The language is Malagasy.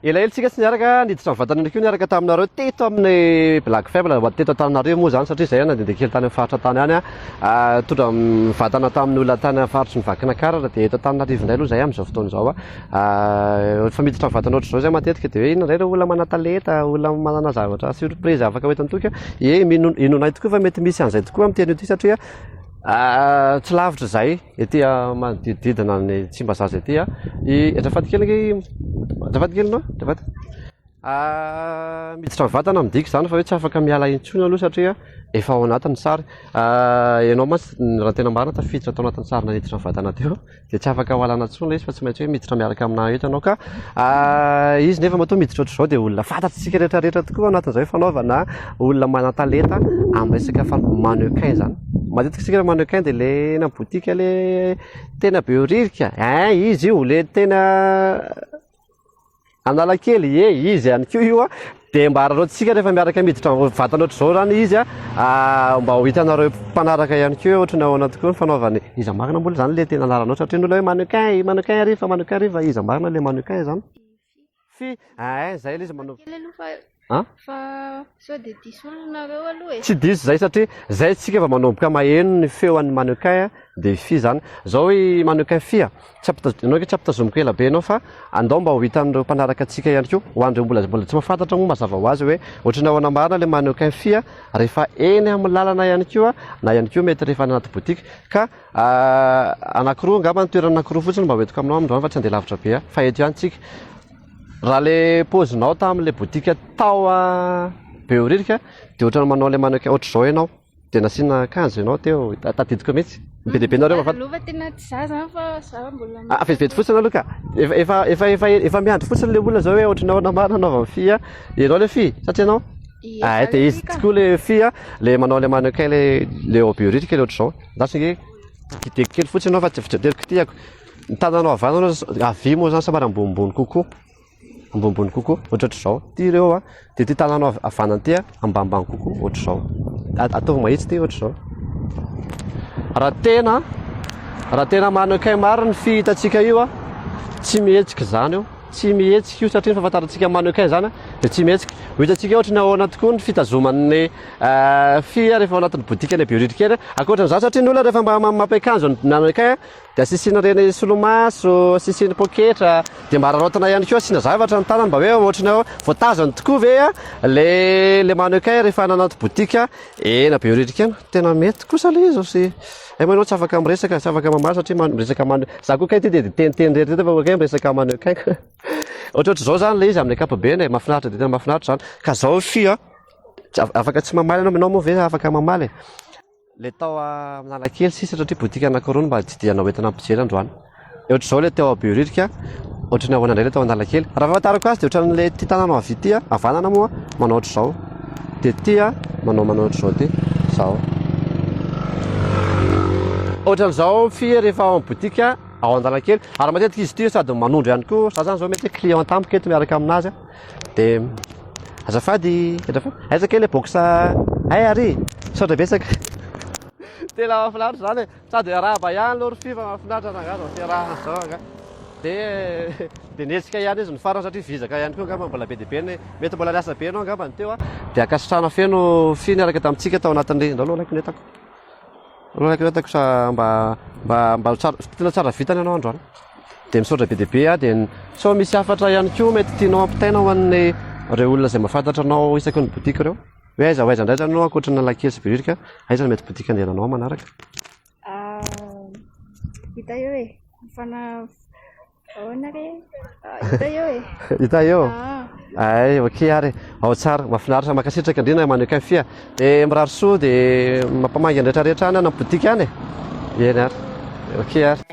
Elaela tsika tsy niaraka niditra ny vatana koa niaraka taminareo teto amin'ny Black Fable ho teto Antananarivo moa zany satria izay nandehandeha kely tany amin'ny faritra tany any ah, tondra vatana tamin'ny olona tany amin'ny faritry ny Vakinakaratra dia eto Antananarivo indray aloha izay amin'izao fotoana izao ah. ah, efa miditra ny vatana ohatr'izao izay matetika dia hoe inona indray ireo olona manan-talenta, olona manana zavatra surprise afaka ho eto an-toky eh, inonay tokoa fa mety misy an'izay tokoa amin'ny teny ity satria Tsy lavitra izay, ety manodidididina ny Tsimbazaza ety i Rafady kely ange i Rafady kely no Rafady miditra ny vatana midika izany fa hoe tsy afaka miala intsony aloha satria efa ao anatin'ny sary, ianao mantsy raha ny tena marina tafiditra tao anatin'ny sary naniditra ny vatana teo. dia tsy afaka hoalana intsony ilay izy fa tsy maintsy hoe miditra miaraka aminà eto ianao ka izy nefa matoa miditra ohatr'izao dia olona fantatsika rehetrarehetra tokoa anatin'izay fanaovana olona manan-talenta amin'ny resaka fan- mannequin zany matetika isika le mannequin dia le eny amin'ny boutique le tena be ririka eh izy io le tena Analakely, ie izy ihany koa io a, dia mba araraotintsika rehefa miaraka miditra mivantana ohatr'izao zany izy a, mba ho hitanareo mpanaraka ihany koa hoe ohatran'ny ahoana tokoa ny fanaovany, iza marina moa zany le tena anaranao satria ny olona hoe mannequin, i mannequin ry fa mannequin ry fa iza marina le mannequin zany? Fy, ain zay le izy manao. an? Fa sao dia diso olona nareo aloha e. Tsy diso izay satria izay isika vao manomboka maheno ny feo an'i Mannequin an, dia fy izany. Izao i Mannequin fy a, tsy ampitaz-, ianao ange tsy ampitazomiko ela be ianao fa andao mba ho hitan'ireo mpanaraka antsika ihany koa, ho an'ireo mbola mbola tsy mahafantatra moa mazava ho azy hoe ohatry ny ahoana marina ilay Mannequin fy an, rehefa eny amin'ny lalana ihany koa na ihany koa mety rehefa any anaty boutique. Ka anakiroa angamba ny toerana anakiroa fotsiny mba hoentiko aminao amin'izany fa tsy handeha lavitra be aho fa eto ihany tsika. Raha le pozinao tamin'ilay boutique tao Behoririka dia ohatran'ny manao ilay mannequin ohatr'izao ianao dia nasiana akanjo ianao teo, tadidiko mihitsy. Be dia be nareo mahafantatra. Lova tena tsy za zany fa za mbola Ah, ah, vetivety fotsiny aloha ka. Efa efa efa efa efa miandry fotsiny le olona zao hoe ohatry ny ahoana marina hanaovan'ny fy a. Ianao le fy sa tsy ianao? Ie, Ah, za dia le izy fy ka. tokoa le fy a, le manao le mannequin le le ao Behoririka le ohatr'izao. Andraso ange, kideko kely fotsiny ianao fa tsy avy tsy ateriko ty ako. Ny tananao havanana havia moa zany somary ambonimbony kokoa, ambonimbony kokoa, ohatratr'izao. Ty ireo a, dia ty tananao havanana ty a, ambanimbany kokoa, ohatr'izao. Ataovy mahitsy ty, ohatr'izao. Raha tena, raha tena manakay maro ny fihitantsika io a, tsy mihetsika izany io, tsy mihetsika io satria ny fahafantarantsika ny manakay izany a, dia tsy mihetsika. Ho hitantsika ohatry ny ahoana tokoa ny fitazoman'ny fia rehefa ao anatin'ny bodikany bioritra kely a. Ankoatran'izany, satria ny olona rehefa mba mampiakanjo ny manakay a, Dia asian'ireny solomaso, asiany poketra, dia mba araraotina ihany koa, asiana zavatra ny tanany mba hoe ohatran'ny hoe voatazany tokoa ve ilay ilay mannequin rehefa any anaty boutique ena be ririka eny. Tena mety kosa ilay izy sy hay moa ianao tsy afaka miresaka, tsy afaka mamaly satria man- miresaka man- za koa kay ity dia miteniteny irery irery fa hoe miresaka mannequin ka. Ohatrohatr'izao izany ilay izy amin'ny ankapobeny e, mahafinaritra dia tena mahafinaritra izany. Ka izao fy a, tsy af- afaka tsy mamaly ianao, ianao moa ve afaka mamaly e? Ilay tao Analakely sisa satria boutique anankiroa no mba tsidihana ho entina ampijery androany. Dia ohatr'izao ilay teo Behoririka, ohatran'ny ahoana indray ilay tao Analakely. Raha fahafantarako azy dia ohatran'ilay ity tanàna avy ity havanana moa manao ohatr'izao. Dia ity manao manao ohatr'izao ity. Izao. Ohatran'izao fia rehefa ao amin'ny boutique ao Analakely. Ary matetika izy ity sady manondro ihany koa. Za zany izao mety client tampoka eto miaraka aminazy. De azafady azafady aiza kay le box hay ary e misaotra betsaka. Tena mahafinaritra izany e, sady hiarahaba ihany aloha ry Fy fa mahafinaritra rangahy vao fiarahana izao angaha. Dia dia nihetsika ihany izy ny farany satria vizaka ihany koa angamba mbola be dia be ny, mety mbola niasa be ianao angamba ny teo an. Dia ankasitrahana feno Fy niaraka tamintsika tao anatin'ny, ndao aloha alaiky ny entako. Nanankiratako sa mba mba mba ho tsara tena tsara vita ny anao androany. Dia misaotra be dia be aho dia sao misy hafatra ihany koa mety tianao hampitaina ho an'ny ireo olona izay mahafantatra anao isaky ny boutique ireo? Hoe aiza ho aiza indray izany ianao ankoatra ny Analakely sy Behoririka, aiza no mety boutique andehananao manaraka? Hita eo e! Mifana. Ahoana re? Ah, hita eo e. Hita eo? Ah. Ay, ok ary. Ao tsara, mahafinaritra, mankasitraka indrindra mannequin fia. Dia mirary soa dia mampamangy ny rehetrarehetra any na boutique any e. Eny ary. Ok ary.